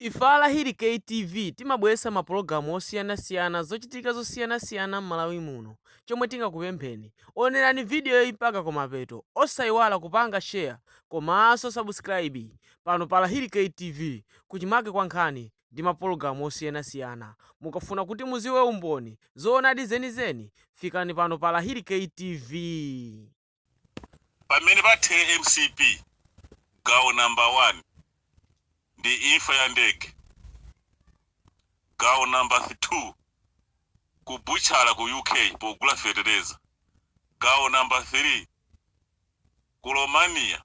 Ife a Lahiri Kay TV timabweretsa ma pologalamu osiyana siyana zochitika zosiyana siyana mmalawi muno chomwe tingakupempheni onerani video iyi mpaka kumapeto osaiwala kupanga share komanso subscribe pano pa Lahiri Kay TV kuchimake kwa nkhani ndi ma pologalamu osiyana siyana mukafuna kuti muziwe umboni zoonadi zeni zeni fikani pano pa Lahiri Kay TV. pamene pathere mcp gawo number 1 ndi imfa ya ndege gawo number 2 kubutchala ku uk pogula fetereza gawo number 3 ku romania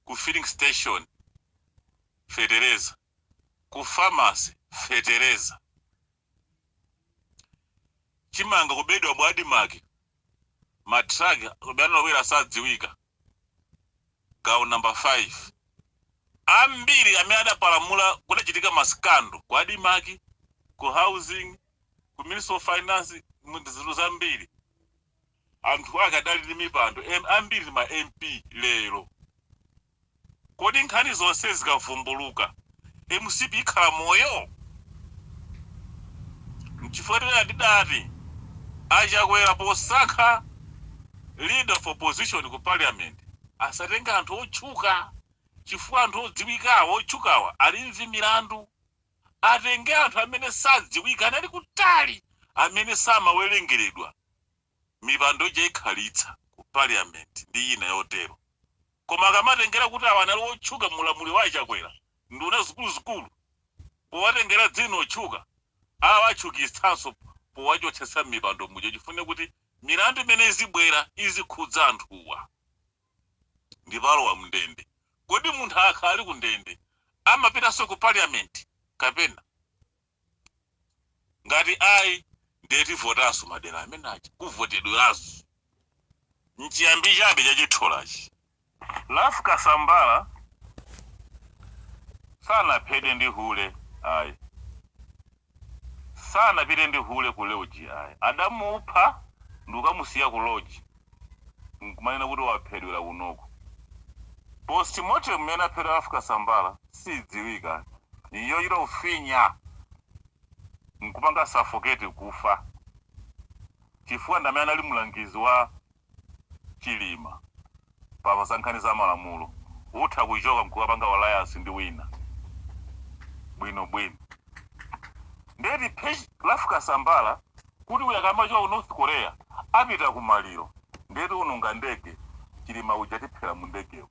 ku filling station fetereza ku pharmacy fetereza chimanga kubedwa mu admarc ma truck kumene analowera sadziwika gawo number 5 ambiri amene adapalamula kudachitika ma scandal ku admarc ku housing ku ministry of finance mu ndi zinthu zambiri anthu ake adali ndi mipando em- ambiri ndi ma mp lero Kodi nkhani zonse zikavumbuluka mcp ikhala moyo? Mchifukwa tinena ndidati a Chakwera posankha leader of opposition ku parliament asatenge anthu otchuka chifukwa anthu odziwikawa, otchukawa ali m'milandu. Atenge anthu amene sadziwika anali kutali amene samawelengeledwa. mipando ija ikhalitsa ku parliament ndi ina yotero koma akamatengera kuti awa anali otchuka mu ulamuliro wa achakwera nduna zikuluzikulu powatengera dzina otchuka awatchukitsanso powachotsetsa m'mipando muja chifukwa choti milandu imene izibwera izikhudza anthuwa ndipo alowa mndende kodi munthu akhala ali ku ndende amapitanso ku parliament kapena ngati ayi ndiye tivotanso madera amene aja kuvotedwenso nchiyambi chabe chachitholachi Ralph kasambala sanaphedwe ndi hule ayi sanapite ndi hule ku loji ayi adamupha ndikukamusiya ku loji nkumanena kuti waphedwera kunoko. Post mortem mmene aphedwera Ralph Kasambala siidziwika, iyi yochita kufinya nkupanga suffocate kufa chifukwa ndi amene anali mlangizi wa Chilima pa nkhani za malamulo. Utha kuchoka nkukapanga alliance ndi wina bwinobwino. Ndiye eti Ralph Kasambala kuti uyu akamachokera ku north korea apita ku maliro nde tiononga ndege chilima uja tiphera mu ndegewo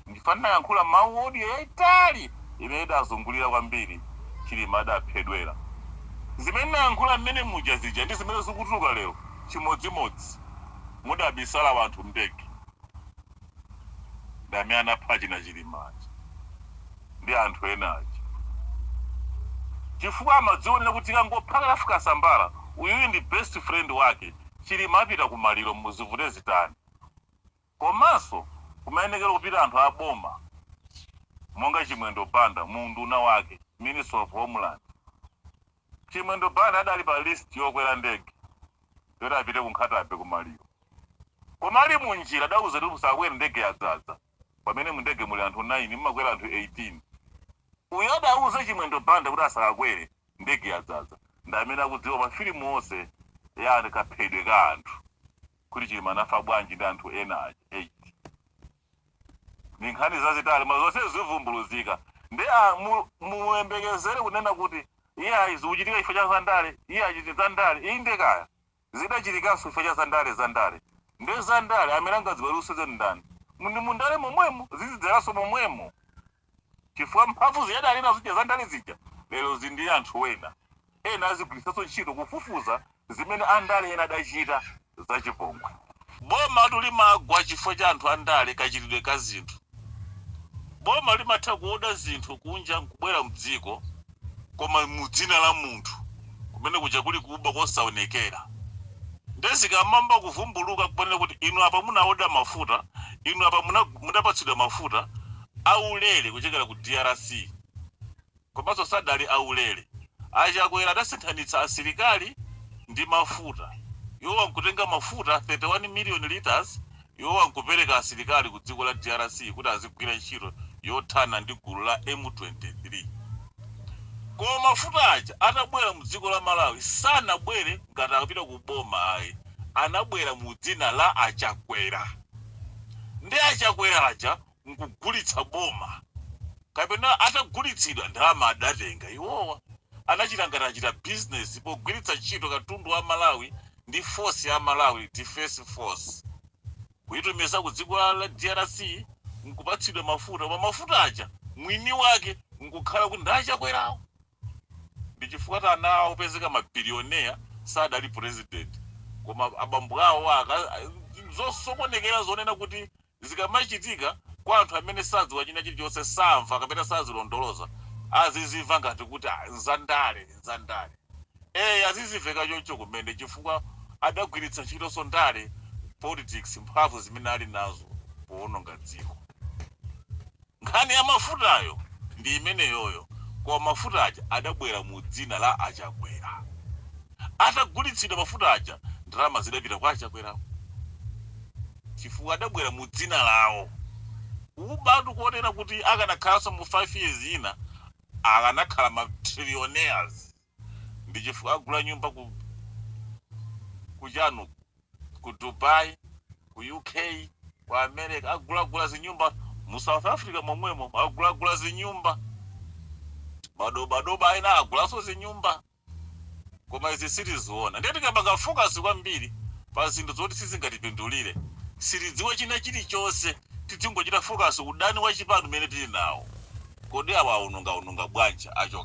ndinayankhula mawu odiyo yaitali imene idazungulira kwambiri chilima adaphedwera zimene nayankhula mmene muja zija ndi zimene zikutuluka lero chimodzimodzi mudabisala wanthu mndege ndi amene anapha achina chilima aja ndi anthu ena aja chifukwa amadzionera kuti tikangopha ka lafu kasambala uyuyu ndi best friend wake chilima apita ku maliro mu zivute zitani komanso kumayenekera kupita anthu a boma monga chimwendo banda mu unduna wake minister of homeland Chimwendo Banda adali pa list yokwera ndege yoti apite ku Nkhatabe ku maliro. Koma ali mu njira adawauza kuti musakwere ndege yadzadza. Pamene mu ndege muli anthu 9 mumakwera anthu 18. Uyu adawauza Chimwendo Banda kuti asakakwere ndege yadzadza ndi amene akudziwa mafilimu onse a kaphedwe ka anthu kuti Chilima anafa bwanji ndi anthu ena aja 8. ndi nkhani zazitali ma zonse zivumbuluzika ndi a- mu- muyembekezere kunena kuti iye ayi zikuchitika chifukwa cha zandale iye akuti zandale inde kaya zidachitikanso chifukwa cha zandale zandale ndi zandale amene angadzaweruze zeni ndani ndi mundale momwemo zizidzeranso momwemo chifukwa mphamvu zija adali nazo zija zandale zija lero zili ndi anthu ena ena azigwiritsanso ntchito kufufuza zimene andale ena adachita zachipongwe bomatu limagwa chifukwa cha anthu andale kachitidwe ka zinthu boma limatha kuoda zinthu kunja nkubwera mdziko koma mu dzina la munthu kumene kuja kuli kuba kosaonekera nde zikamayamba kuvumbuluka kumanena kuti inu apa munaoda mafuta inu apa muna- munapatsidwa mafuta aulere kuchokera ku drc komanso sadali aulere a chakwera adasinthanitsa asilikali ndi mafuta iwowa nkutenga mafuta 31 million liters Iwowa nkupereka asilikali ku dziko la drc kuti azigwira ntchito yothana ndi gulu la M23. Koma mafuta aja atabwera mu dziko la Malawi sanabwere ngati akupita ku boma ayi. Anabwera mu dzina la a Chakwera. Nde a Chakwera aja nkugulitsa boma kapena atagulitsidwa ndalama adatenga iwowa anachita ngati achita business pogwiritsa ntchito katundu wa Malawi ndi force ya Malawi defence force kuitumiza ku dziko la, la drc nkupatsidwa mafuta koma mafuta aja mwini wake nkukhala kuti ndi a chakwerawo ndi chifukwa chake ana awo opezeka mabilioneya sadali president koma abambo awo zosokonekera zonena kuti Zikamachitika kwa anthu amene sadziwa china chilichonse, samva kapena sazilondoloza, azizimva ngati kuti ah nzandale nzandale. Eee azizimveka choncho kumene chifukwa adagwiritsa ntchitonso ndale, politics, mphamvu zimene alinazo powononga dziko. Nkhani ya mafutayo ndi imeneyoyo koma mafuta aja adabwera mu dzina la a Chakwera. Atagulitsidwa mafuta aja ndalama zidapita kwa a Chakwerawo chifukwa adabwera mu dzina lawo. Kubatu kuonera kuti akanakhalanso mu 5 years ina akanakhala ma trillionaires. ndichifukwa agula nyumba ku kuchanu ku dubai ku uk ku america agulagula zinyumba mu south africa momwemo agulagula zinyumba madobadoba ena agulanso zinyumba koma izi sitiziona ndiye tikapanga focus kwambiri pa zinthu zoti sizingatipindulire sitidziwa china chilichonse tidzingochita focus udani wa chipani umene tili nawo kodi awa aonongaononga bwanji achoka